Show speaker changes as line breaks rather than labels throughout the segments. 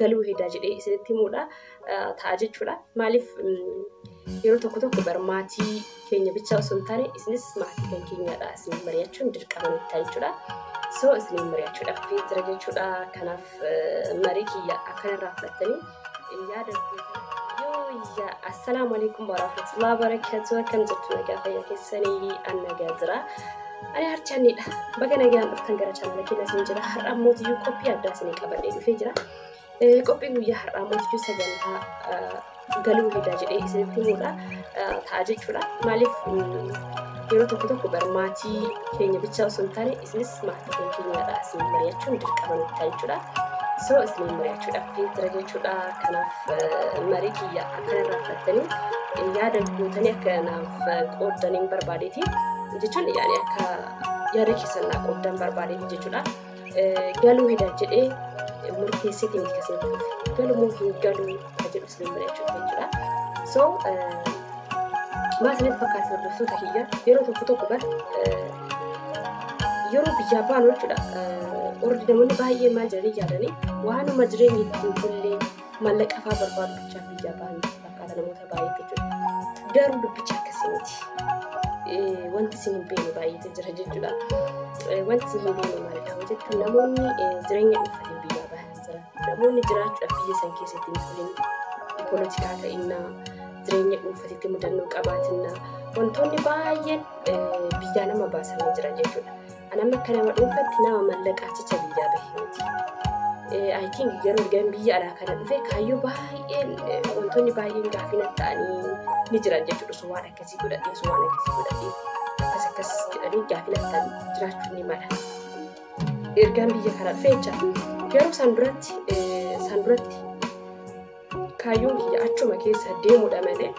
galuu hedaa jedhee isinitti himuudha ta'a jechuudha. Maaliif yeroo tokko tokko bar maatii keenya bichaa osoo hin taane isinis maatii kan keenyadha isin mari'achuun dirqama nutti ta'a jechuudha. So isin mari'achuudhaaf fi jira jechuudha. Kanaaf marii kiyya akkanarraa fudhattanii yaada Yooyya assalaamu alaikum warahmatullahi wabarakatuh akkam jirtu nagaa fayyaa keessanii annagaa jira. Ani harchaanniidha. Baga nagaan dhuftan gara chaanala keenya isin jira. Har'a ammoo iyyuu qophii addaa isin qabadhee dhufee jira. Eh, Qophiin guyyaa har'aa ammoo iyyuu sagantaa eh, galuu hedaa jedhee isinitti himuudha. Eh, Ta'a jechuudha. Maaliif mm, yeroo tokko tokko bar maatii keenya bichaa osoo hin taane isinis maatii keenya keenyadha. Isin mari'achuun dirqama nutti ta'a jechuudha. So isin mari'achuudhaaf jira jechuudha. Kanaaf eh, marii kiyya Kan irraa fudhattanii yaada gootanii akka naaf qooddan hin barbaadeeti. Jechuun yaani akka yaada keessan naaf qooddan barbaadeeti jechuudha. Galuu hidha jedhee murteessiti miti kasin dhufe. Galumoo hin galuu kan jedhu isin mari'achuuf jechuudha. So maa isinitti fakkaatu hordoftoota kiyya yeroo tokko tokko bar yeroo biyyaa baanu jechuudha. Ordi namoonni baay'ee maal jedhanii yaadanii waanuma jireenya ittiin bullee Maallaqa fa'aa barbaadu bichaa fi jabaan fakkaata namoota baay'eetti jechuudha. Garuu dubbicha akkasii miti. Eh, Wanti isin hin beekne baay'eetu jira jechuudha. Eh, Wanti isin hin beekne maal qaba jettu namoonni eh, jireenya dhuunfaatiin biyyaa bahan jira. Namoonni jiraachuudhaaf biyya san keessatti hin turin poolitikaa ta'innaa jireenya dhuunfaatitti mudannoo qabaatinna wantoonni baay'een eh, biyyaa nama baasanii jira jechuudha. An amma akka nama dhuunfatti nama mallaqa achicha biyyaa bahe miti. I think garuu ergan biyya alaa kana dhufe kaayyoo baay'een wantoonni baay'een gaaffii natti ta'anii ni jiran jechuudha. Osoo waan akkasii godhadhee osoo waan akkasii godhadhee akkas akkas jedhanii gaaffii natti ta'anii jiraachuu ni mala. Ergaan biyya kana dhufe jecha garuu san duratti san duratti Kaayyoon kiyya achuma keessa deemudha malee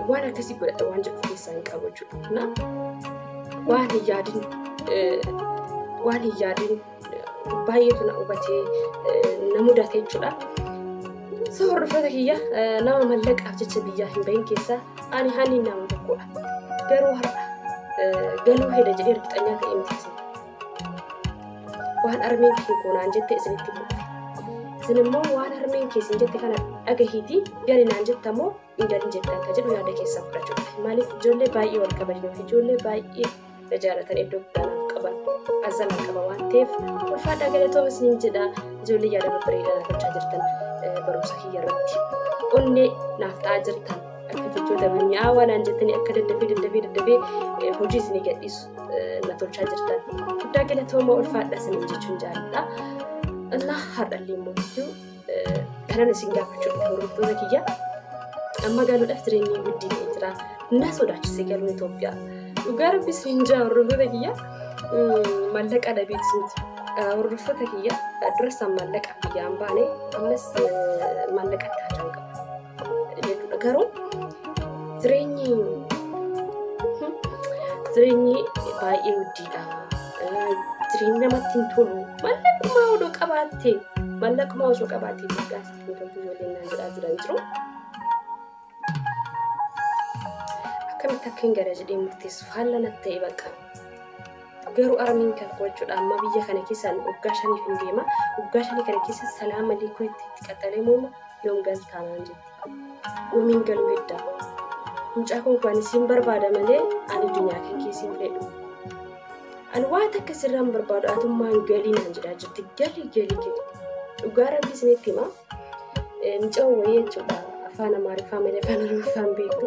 waan akkasii godhadha waan jedhu keessaa hin qabu jechuudha. Waan hin yaadin waan hin yaadin baay'eetu na hubatee na mudate jechuudha. So hordoftoota kiyya nama mallaqaaf jecha biyyaa hin bahin keessaa ani hanni nama tokkodha. Garuu har'a galuu heda jedhee riqxanyaa ta'e miti. waan harmeen kee goonaan jette isinitti muudhe. Isin immoo waan harmeen kee isin jette kana dhagahiitii gari naan jetta moo hin galin jettan kan jedhu yaada keessaa fudhachuudha. Maaliif ijoollee baay'ee wal kabajnuu fi ijoollee baay'ee na jaalatan iddoo guddaa naaf qaban azalan qaba waan ta'eef ulfaadhaa galatooma isiniin jedha ijoollee yaada babbareedaa naaf gochaa jirtan eh, barumsa kiyya irratti onnee naaf ta'aa jirtan akka jechoota mi'aawaa naan jettanii akka daddafee daddafee daddafee eh, hojii isinii gadhiisu. na tolchaa jirtan guddaa galatooma ulfaadha isin jechuun jaalladha. Allah har'allee immoo jechuun kanan isin gaafachuu dhufu hordoftoota kiyya amma galuudhaaf jireenyi guddin jira na sodaachise galuu Itoophiyaa dhugaa rabbi isin jaa hordoftoota kiyya mallaqa dhabeet isinti hordoftoota kiyya durasaan mallaqa biyyaa hin baane ammas mallaqa itti hajaan qaba. jechuudha. Garuu jireenyi jireenyi baay'ee hojjiidha. Jireenyi namatti hin tolu. Mallaquma odoo qabaatte mallaquma osoo qabaatte guddaa tokko ijoolleen naan jedhaa jiran jiru. Akkamitti akka hin gara jedhee murteessu faallaa natti ta'e bakka. Garuu armiin kan qo'achuudha amma biyya kana keessaan waggaa shaniif hin deema. Waggaa shanii kana keessa salaama liikuu itti itti qaxxalee moomu yoon galtaanaan jetti. Uumiin galuu heddaa. Mucaa kun kan isiin barbaada malee ani addunyaa kan keessiin fedhu. Ani waan takka sirraa hin barbaadu atummaan galii naan jedhaa jirti. Galii galii galii. Dhugaa rabbi isinitti hima. Mucaa wayii jechuudha. Afaan Amaariffaa malee afaan Oromoffaan beektu.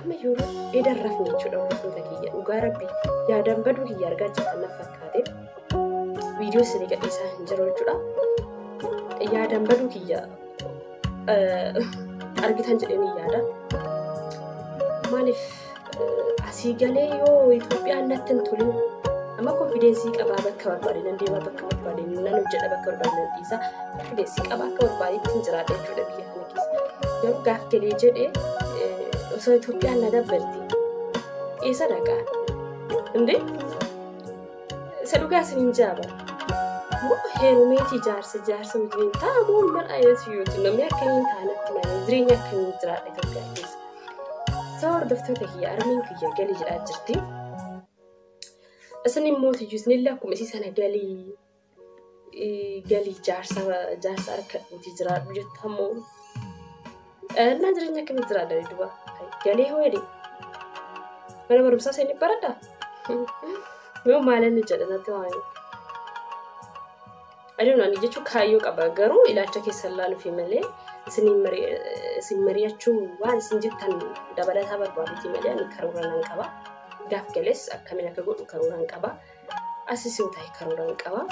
Amma yeroo edan rafne jechuudha hordoftoota kiyya dhugaa rabbi yaadaan baduu kiyya argaa jirtan na fakkaate viidiyoo isinii gadhiisaa hin jiru jechuudha. Yaadaan baduu kiyya argitan jedhanii yaada. Maaliif asii galee yoo Itoophiyaan natti hin tolin amma konfideensii qabaa bakka barbaade nan deema bakka barbaade nan hojjedha bakka barbaade nan dhiisa konfideensii qabaa akka barbaadetti hin jiraadha jechuudha biyya kana Dorgaaf galee jedhe osoo Itoophiyaan na dabbarti. Eessa dhaqaa? Indee? Isa dhugaa isin hin jaaba. Moo heerumeetii jaarsa jaarsa wajjin ta'a moo mal ayinati yoo ta'u namni akka hin taanatti malee jireenya akka hin jiraadhe Itoophiyaa keessa. Sababa hordoftoota kiyya armiin kiyya galii jedhaa jirti. Isin immoo iyyuu isinillee akkuma isii sana galii galii jaarsa jaarsa harkadhuutii jiraadhu jetta ammoo dhannaa jireenya akkamii jiraadha duba galee hoo jedhe mana barumsaa seenii baradha yoo maalan jedha natti waa'ee aduun ani jechuun kaayyoo qaba garuu ilaalcha keessa ilaaluufi malee isin mari'achuu waan isin jettan dabalataa barbaaduu malee ani karoora nan qaba gaaf galees akkamiin akka godhu karoora nan qaba. Asis yoo ta'e karoora hin qaba.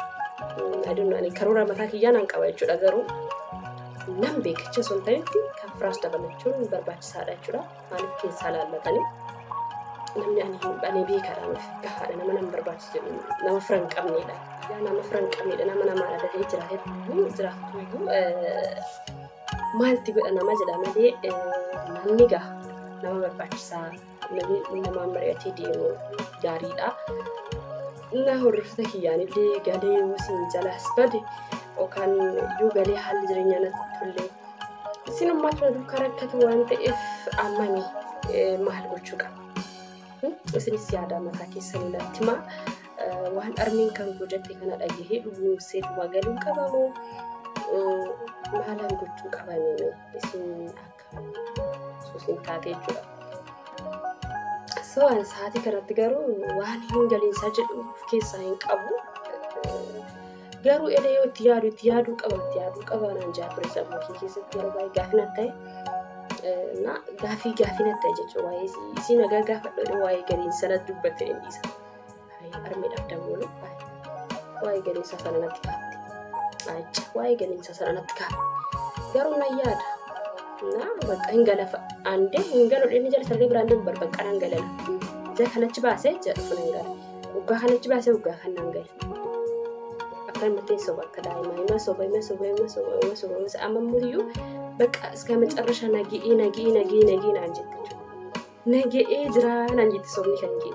Aduun ani karoora mataa kiyyaa nan qaba jechuudha garuu nan beekicha osoo hin ta'etti kan firaas dabalachuun barbaachisaadha jechuudha. Maaliif keessaa laallatanii namni ani hin banee beekaadha nuuf gahaadha nama nama barbaachisu jedhu nama fira hin qabneedha. Yaa nama fira hin qabneedha nama namaa dhalatee jiraatee iyyuu jiraatu iyyuu maalti godha nama jedha malee namni gaha nama barbaachisaa. Namni namaan mari'atee deemu gaariidha. Innaa hordoftoota kiyyaanillee galee yoo isin jalaas bade yookaan yoo galee haalli jireenyaa natti tollee isin ammaa tana duukaa rakkatu waan ta'eef ammani maal gochuu qaba? Isinis yaada mataa keessanii natti himaa. Waan armeen kan gojatte kana dhagahee dhuguun seetuma galuu qabamoo maalaan gochuu qabanii isin akka Suusiin taatee jechuudha. Sawaan sa'aatii kanatti garuu waan hin galiinsaa jedhu of keessaa hin qabu. Garuu eda yoo itti yaadu itti yaaduu qaba itti yaaduu qaba naan jaa ture sammuu kee keessatti yeroo baay'ee gaaffii natti ta'e. Na gaaffii gaaffii natti ta'e jechuudha waa'ee isii nagaa gaafadhu waa'ee galiinsaa natti dubbattee hin dhiisa. Armee dhabdamoolu waa'ee galiinsa sana natti kaafte. Acha waa'ee galiinsa sana natti kaafte. Garuu nan yaada. Na bakka hin galafa. Andee hin galu dhimmi jala sargee biraan deemu barbaqqa nan galala. Jaa kanachi baasee jaa dhufu nan gala. Waggaa kanachi baasee waggaa kan nan gala. Akkanumatti hin soba akka daa'imaa. Hima soba hima soba hima soba hima soba hima soba. Amma immoo iyyuu bakka iska macarrasha nagii nagii nagii nagii naan jette. Naga'ee jiraa naan jette sobni kan kee.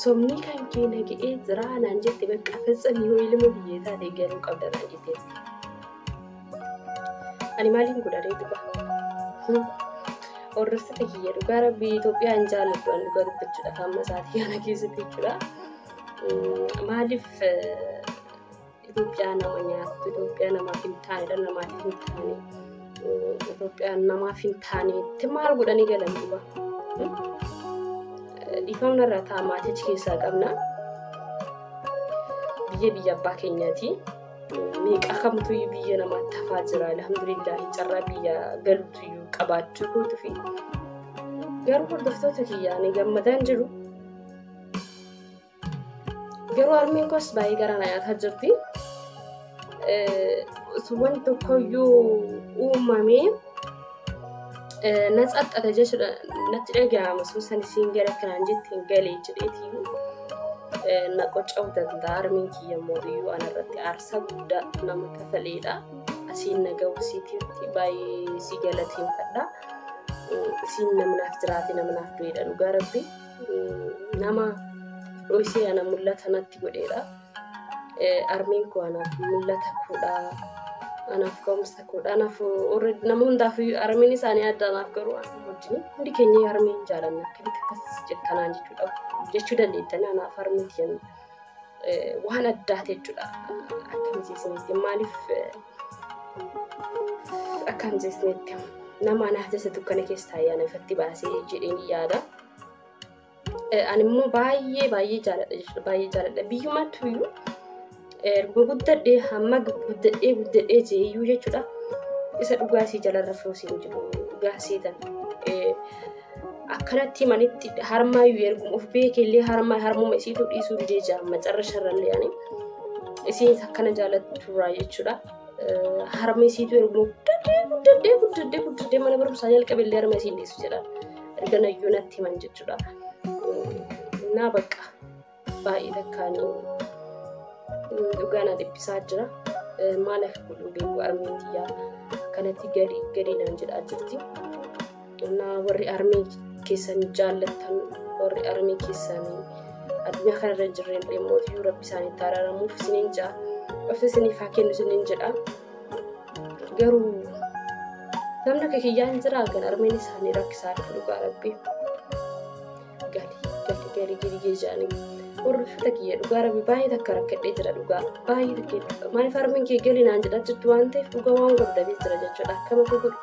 Sobni kan kee naga'ee jiraa naan jette bakka fetsan yoo ilma biyyee taate garuu qabda naan jette. Ani maaliin godharee dhugaa? Hordoftoota kiyya dhugaa rabbi Itoophiyaa hin jaalladhu an dhugaa dubbachuudhaaf amma sa'aatii kana keessatti jechuudha. Maaliif Itoophiyaan nama nyaattu, Itoophiyaan namaaf hin taane, dhala namaatiif hin taane, Itoophiyaan namaaf hin taanetti maal godhanii galan duuba? Dhiifamna irraa ta'a maatii achi keessaa qabna. Biyya biyya abbaa keenyaati. Meeqa kamtu biyya namaatti hafaa jira. Alhamdulillah carraa biyya galutu iyyuu qabaachuu kootu fi garuu hordoftoota kiyyaa ni gammadaan jiru. Garuu harmeen koos baay'ee garaa na nyaataa jirti. Wanti tokkoyyuu uumamee na xaxxata jechuudha natti dhaga'ama sun san isiin gara kanaan jette hin galee jedheeti na qocca'uu danda'a harmeen kiyya immoo iyyuu ana irratti aarsaa guddaa nama kafaleedha. Asiin na ga'u siitiitti baay'ee si galateeffadha. Isiin namnaaf jiraate namnaaf du'eedha dhugaa rabbi. nama dhoysee ana mul'ata natti godheedha. Armeen koo anaaf mul'ata koodha. Anaaf ka'umsa koodha. Anaaf nama hundaaf armeen isaanii adda anaaf garuu wajjin hundi keenya armee hin jaalanna. Akkamitti akkas jettanaan jechuudha. Jechuu dandeettanii anaaf armee jenna. Waan addaa jechuudha. Akkamitti isinitti maaliif akkamitti isinitti nama anaaf jessa dukkana keessaa ayyaana ifatti baasee jedheen yaada. Ani immoo baay'ee baay'ee jaaladha jechuudha baay'ee jaaladha biyyuma tuyyuu erga guddadhee hamma guddadhee guddadhee jeeyyuu jechuudha isa dhugaa isii jalarra fuusiin jiru dhugaa seetan akkanatti manitti harmaayyuu erguma of beekellee harmaa harmuma isiitu dhiisuu didee jira macarra sharrallee ani isiin akkana jaalatturaa jechuudha. Harma isiitu erguma guddadhee guddadhee guddadhee guddadhee mana barumsaa jalqabellee harma isiin dhiisu jedha. Ergana iyyuu natti himan jechuudha. Naa bakka baay'ee takkaanii dhugaa na dhiphisaa jira. Maal akka godhu beeku armeen tiyyaa kanatti gadi gadi naan jedhaa jirti. Naa warri armee keessan jaallattan warri armee keessan addunyaa kanarra hin jirreen immoo rabbi isaanitti araaramuuf isiniin ja'a. Obsa isiniif haa kennu isiniin jedha. garuu namni akka kiyyaa hin jiraa kan armeen isaanii rakkisaa dhufu dhugaa rabbi gali gali gali gali geejaanii hordofata kiyya dhugaa rabbi baay'ee takka rakkadhee jira dhugaa baay'ee takka maaliif armeen kee gali naan jedha jirtu waan ta'eef dhugaa waan guddatee jira jechuudha akkama koo godhu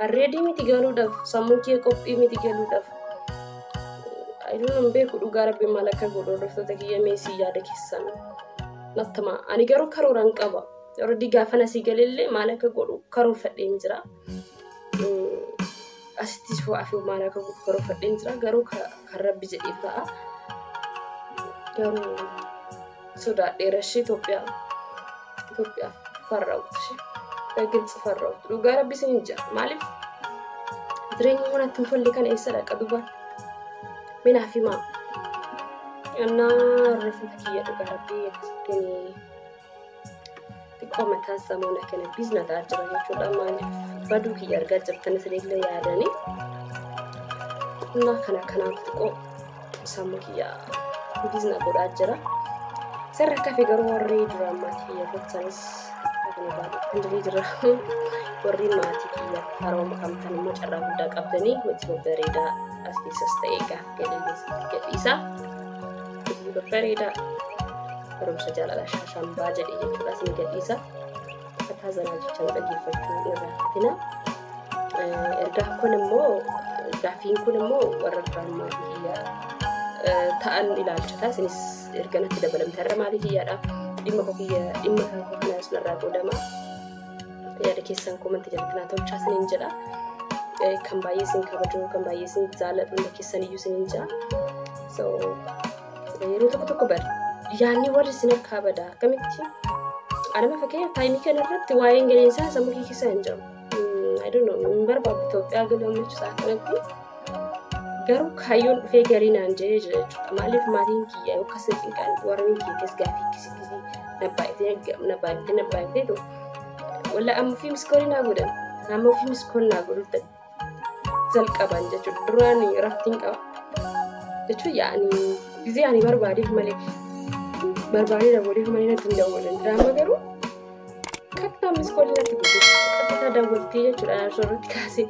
arreedii miti galuudhaaf sammuu kee qophii miti galuudhaaf ayyuu hin beeku dhugaa rabbi maal akka godhu hordoftoota kiyya meesii yaada keessan nattama ani garuu karooraan qaba Already gaafa nasii galellee maal akka godhu karoorfadheen jira. Asittis ho'aa fi maal akka godhu karoorfadheen jira. Garuu kan rabbi jedheef ta'a. Garuu sodaadhee rashii Itoophiyaa Itoophiyaa farraa'uutu ishee. Giltsi farraa'uutu. Dhugaa rabbi isin hin jira. Maaliif? Jireenyi mana ittiin tolle kana eessa dhaqa duba? Minaa fi maa? Annaa rifata kiyya dhugaa rabbi akkasitti xiqqoo mataa samuuna kana biizna ta'aa jira jechuudha maaliif baduu kiyya argaa jirtan isinillee yaadanii humna kana kanaaf xiqqoo sammuu kiyya biizna godhaa jira sirra kafe garuu warri duraan maatii kiyya gochanis hundee jira warri maatii kiyya haroo makamtan immoo carraa guddaa qabdanii hojii bareedaa as keessas ta'ee gaaf gadhiisa bareedaa barumsa jaalalaa shaashambaa jedhe jechuudha isin gadhiisa akkataa zanaa jecha nu dhaggeeffachuu irraa hafina ergaa kun immoo gaafiin kun immoo warra duraan maatii kiyyaa ta'an ilaalchata isinis erga natti dabalamte har'a maatii kiyyaadha dhimma koo kiyya dhimma kan koo kana isin irraa qoodama yaada keessan komanti jalatti naa tolchaa isinin jedha kan baay'ee isin kabajuu kan baay'ee isin jaalladhu hunda keessan iyyuu isinin jedha so Yeroo tokko tokko bar yaadni warri isin harkaa bada akkamitti anama fakkeenyaaf taayimii kana irratti waa'een galiinsaa sammuu kee keessa hin jiru. I don't know hin barbaadu Itoophiyaa galuu michuusaa kanatti garuu kaayyoon dhufee garii naan jedhee jira jechuudha. Maaliif maatiin kiyya yoo akkas hin cinqaan warreen kiyya keessa gaafii akkasii akkasii nabbaayitee nabbaayitee nabbaayitee walla amma fi miskoolii naa godhan amma fi miskoolii naa godhuutti jalqaban jechuudha. Duraan raftiin qaba. Jechuun yaa'ni gizee ani barbaadeef malee barbaadee daawwateef malee natti hin daawwatan. Diraama garuu kattaa miskoolii natti guddisa. Kattaa daawwattee jechuudha arsoo irratti kaasee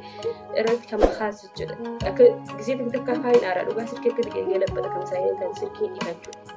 irratti kan kaase jechuudha. Akka gizee takka afaan hin aaraa dhugaa sirkii akka dhiqee labbata kan isaa hin kan sirkii dhiqachuudha.